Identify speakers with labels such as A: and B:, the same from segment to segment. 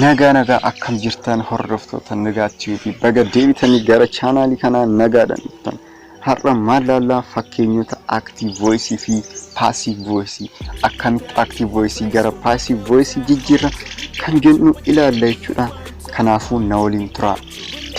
A: Nagaa nagaa akkam jirtan hordoftoota nagaa tv baga deebitanii gara chaanaalii kanaa nagaadhaan dhuftan har'a maal laallaa fakkeenyota active voice fi passive voice akkamitti active voice gara passive voice jijjiirra kan jennu ilaalla jechuudha kanaafuu na waliin turaa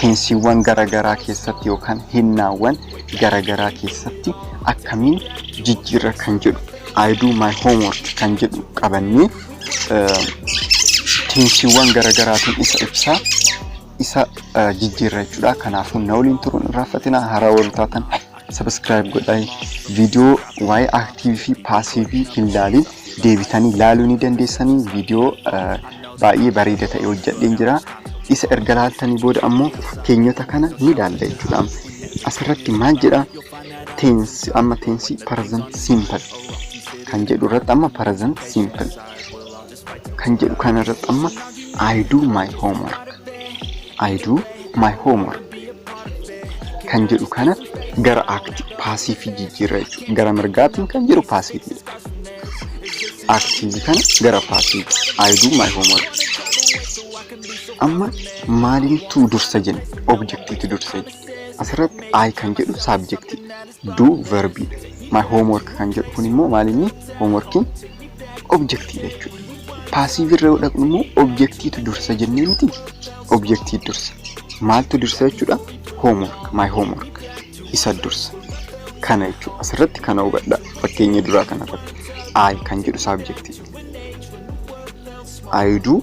A: teensiiwwan garaagaraa keessatti yookaan hinnaawwan garaagaraa keessatti akkamiin jijjiirra kan jedhu I do my homework kan jedhu qabannee teensiiwwan garaagaraatiin isa ibsaa isa jijjiirra jechuudha. Kanaafuu na waliin turuun hin raaffatina haaraa warri taatan sabiskiraayib godhaa viidiyoo waa'ee aktiivii fi paasiivii hin laaliin deebitanii laaluu ni dandeessanii viidiyoo baay'ee bareeda ta'e hojjedheen jira. Isa erga laaltanii booda ammoo fakkeenyota kana ni laalla jechuudha. Asirratti maal jedha? Tense amma tense present simple kan jedhu irratti amma present simple kan jedhu kana irratti amma I do my homework I do my homework kan jedhu kana gara akti paasiifii jijjiirra jechuudha. Gara mirgaatiin kan jiru paasiifii. Aktiivii kana gara paasiifii. I do my homework. Amma maalintu dursa jenna? Objektiitu dursa jenna. Asirratti I kan jedhu saabjektii do verbii dha. My homework kan jedhu kun immoo maal inni homeworkiin objektii jechuudha. Paasiivii irra yoo dhaqnu immoo objektiitu dursa jennee miti objektii dursa. Maaltu dursa jechuudha? Homework, my homework isa dursa. Kana jechuudha. Asirratti kana hubadha. Fakkeenya duraa kana irratti I kan jedhu saabjektii. I do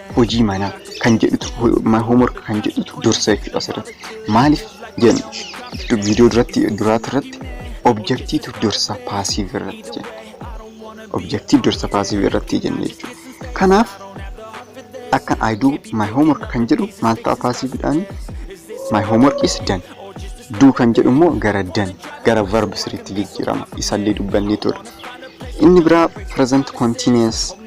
A: hojii manaa kan jedhutu homework kan jedhutu dursa jechuudha asirratti maaliif jenna viidiyoo duratti duraati irratti objektiitu dursa paasiif irratti jenna objektiif dursa paasiif irratti jenna jechuudha kanaaf akka I do my homework kan jedhu maal ta'a paasiifidhaan my homework is done do kan jedhu immoo gara done gara verb siriitti jijjiirama isallee dubbannee turre inni biraa present continuous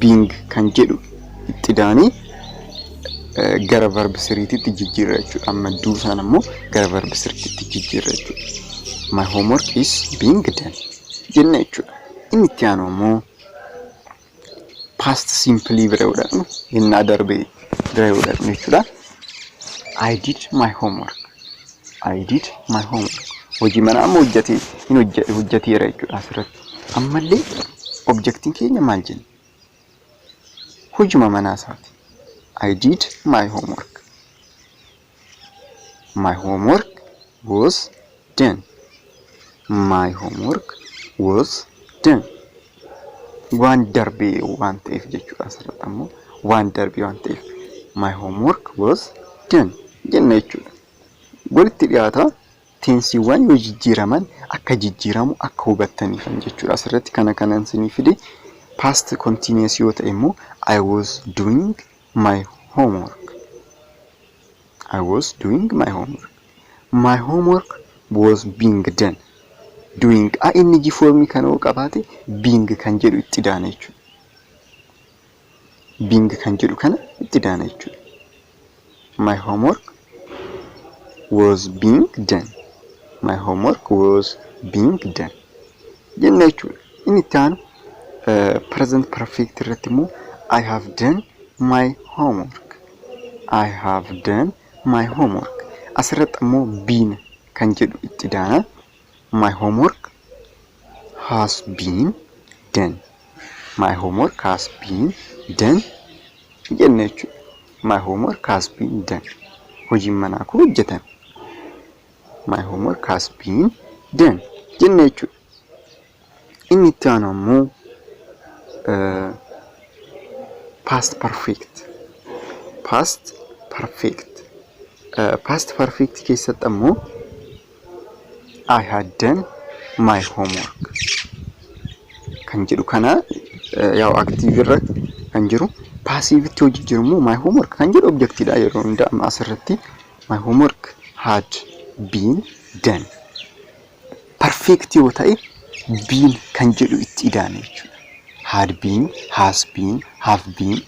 A: being kan jedhu itti daanii gara verb siriititti jijjiirra jechuudha. Amma duu isaan ammoo gara verb siriititti jijjiirra jechuudha. My homework is being done jenna jechuudha. Inni itti aanu ammoo past simply bira yoo dhaqnu innaa darbe bira yoo dhaqnu jechuudha. I did my homework. I did my homework. Hojii manaa amma hojjete hin hojjeteera jechuudha asirratti. Ammallee objectin keenya maal jenna? Hujuma manaa isaati. I did my homework. My homework was done. My homework was done. Waan darbee waan ta'eef jechuudha asirratti ammoo waan darbee waan ta'eef my homework was done jenna jechuudha. Walitti dhiyaata Teensiiwwan yoo jijjiiraman akka jijjiiramu akka hubattaniifan jechuudha. Asirratti kana kanan isinii fide past continuous yoo ta'e immoo I was doing my homework. I was doing my homework. My homework was being done. Doing a inni jifoormii kana yoo qabaate being kan jedhu itti daana jechuudha. Bing kan jedhu kana itti daana jechuudha. My homework was being done. My homework was being done. Jenna jechuudha. Inni itti aanu present perfect irratti immoo I have done my homework. I have done my homework. Asirratti ammoo been kan jedhu itti daana. my homework has been done my homework has been done jenne jechuudha my homework has been done hojiin manaa koo hojjetame my homework has been done jenne jechuudha Inni itti aanu ammoo past perfect. Past perfect. Past perfect keessatti ammoo I had done my homework kan jedhu kana yaa'u active irra kan jiru passivetti yoo jijjiiru immoo my homework kan jedhu objectidha yeroo hundaa asirratti my homework had been done. perfect yoo ta'e been kan jedhu itti ida'ame jechuudha. Had been, has been, have been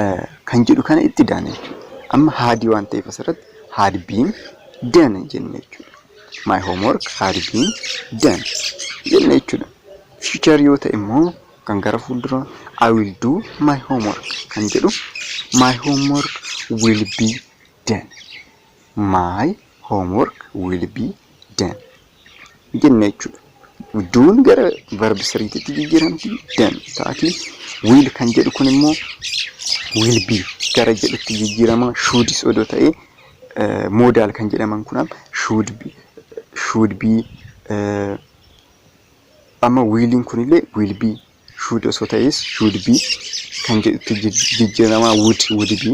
A: eh, kan jedhu kana itti ida'ame jechuudha. Amma haadii waan ta'eef asirratti had been done jenne jechuudha. My homework had been done jenne jechuudha. Future yoo ta'e immoo kan gara fuuldura I will do my homework kan jedhu my homework will be done. My homework will be done. Jenne jechuudha. Duun gara verb siriititti jijjiiramti. Done ta'atii. Will kan jedhu kun immoo will be gara jedhutti jijjiirama. Shoods odoo ta'ee eh, modal kan jedhaman kunam should be, should be eh, amma wiiliin kunillee will be should osoo ta'ees should be kan jedhutti jij- jijjiirama would would be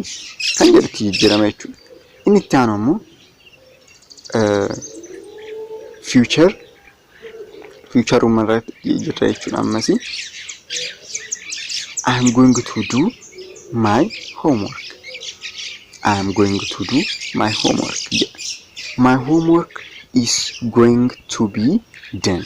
A: kan jedhutti jijjiirama jechuudha. Inni itti aanu ammoo eh, future future uuma irratti jirra jechuudha ammasi. I am going to do my homework. I am going to do my homework jedha. My homework is going to be done.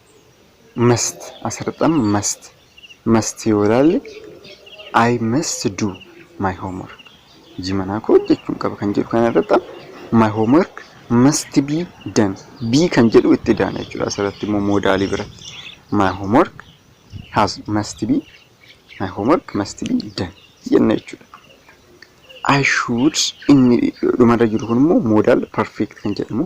A: must asirratti amma must must yoo ilaalle I must do my homework hojii manaa koo hojjechuun qaba kan jedhu kana irratti my homework must be done be kan jedhu itti daana jechuudha asirratti immoo moodaalii biratti my homework has must be my homework must be done jenna jechuudha. I should inni dhumarra jiru kun immoo moodaal perfect kan jedhamu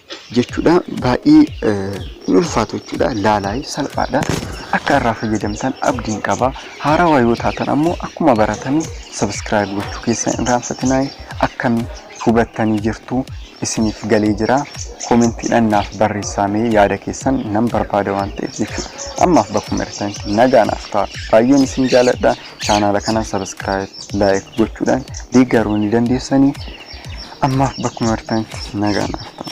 A: jechuudha baay'ee hin ulfaatu jechuudha laalaa salphaadha akka irraa fayyadamtan abdiin qaba haarawaa yoo taatan ammoo akkuma baratame sabiskiraayib gochuu keessan hin raanfatinaa akkam hubattanii jirtu isiniif galee jira koomentiidhaan naaf barreessaamee yaada keessan nan barbaada waan ta'eef jechuudha ammaaf bakkuma irratti nagaa naaf ta'a baay'een isin jaaladha chaanaala kana sabiskiraayib laayik gochuudhaan deeggaruu ni dandeessanii Ammaaf bakkuma jirtanitti nagaa naaf ta'a.